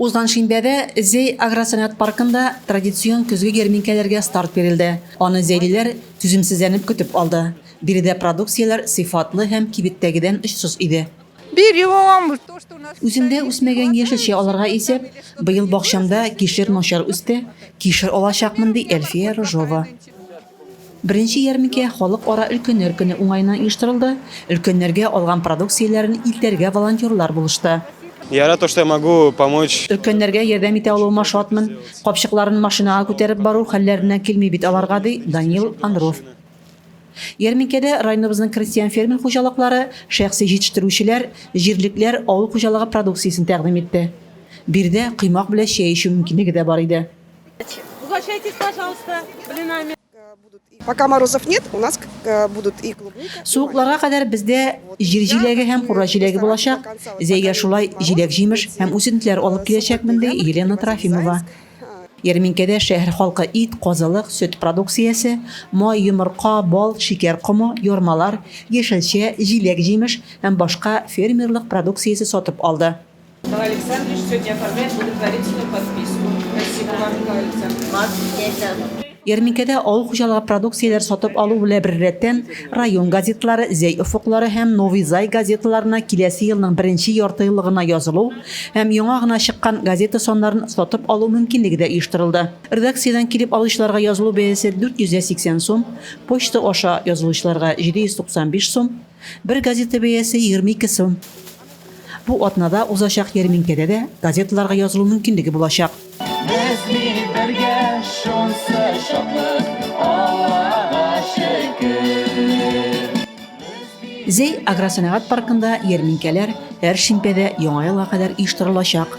Узган шимбәдә Зәй агросәнәгать паркында традицион көзге ярминкәләргә старт бирелде. Аны зәйлеләр түземсезләнеп көтеп алды. Биредә продукцияләр сыйфатлы һәм кибеттәгедән очсыз иде. Үземдә үсмәгән яшелчә алырга исәп, быел бакчамда кишер начар үсте, кишер алачакмын, ди Әлфия Рыжова. Беренче ярминкә Халыкара өлкәннәр көне уңаеннан оештырылды, өлкәннәргә алган продукцияләрен илтәргә волонтерлар булышты. Я рад то, что я могу помочь. Өлкәннәргә ярдәм итә алуыма шатмын. Капчыкларын машинага күтәреп бару хәлләреннән килми бит аларга, ди Данил Анров. Ярминкәдә районыбызның крестьян-фермер хуҗалыклары, шәхси җитештерүчеләр, җирлекләр авыл хуҗалыгы продукциясен тәкъдим итте. Биредә коймак белән чәй эчү мөмкинлеге дә бар иде. Угощайтесь, пожалуйста, блинами. Пока морозов нет, у нас э, будут и клубника. Суыкларга кадәр бездә җир җиләге һәм кура җиләге булачак. Зәйгә шулай җиләк-җимеш һәм үсентеләр алып киләчәкмен, ди Елена Трофимова. Ярминкәдә шәһәр халкы ит, казылык, сөт продукциясе, май, йомырка, бал, шикәр комы, ярмалар, яшелчә, җиләк-җимеш һәм башка фермерлык продукциясе сатып алды. Николай Александрович, сегодня оформляем благотворительную подписку. Спасибо вам, Николай Александрович. Вас здесь. Ярминкәдә авыл хуҗалыгы продукцияләр сатып алу белән беррәттән район газетлары Зәй офыклары һәм Новый Зай газеталарына киләсе елның беренче ярты еллыгына язылу һәм яңа гына чыккан газета саннарын сатып алу мөмкинлеге дә оештырылды. Редакциядән килеп алучыларга язылу бәясе 480 сум, почта аша язылучыларга 795 сум, бер газета бәясе 22 сум. Бу атнада узачак ярминкәдә дә газеталарга язылу мөмкинлеге булачак. Без бит бергә шунсы шатлык, Аллага шөкер. Зәй агросәнәгать паркында ярминкәләр һәр шимбәдә Яңа елга кадәр оештырылачак.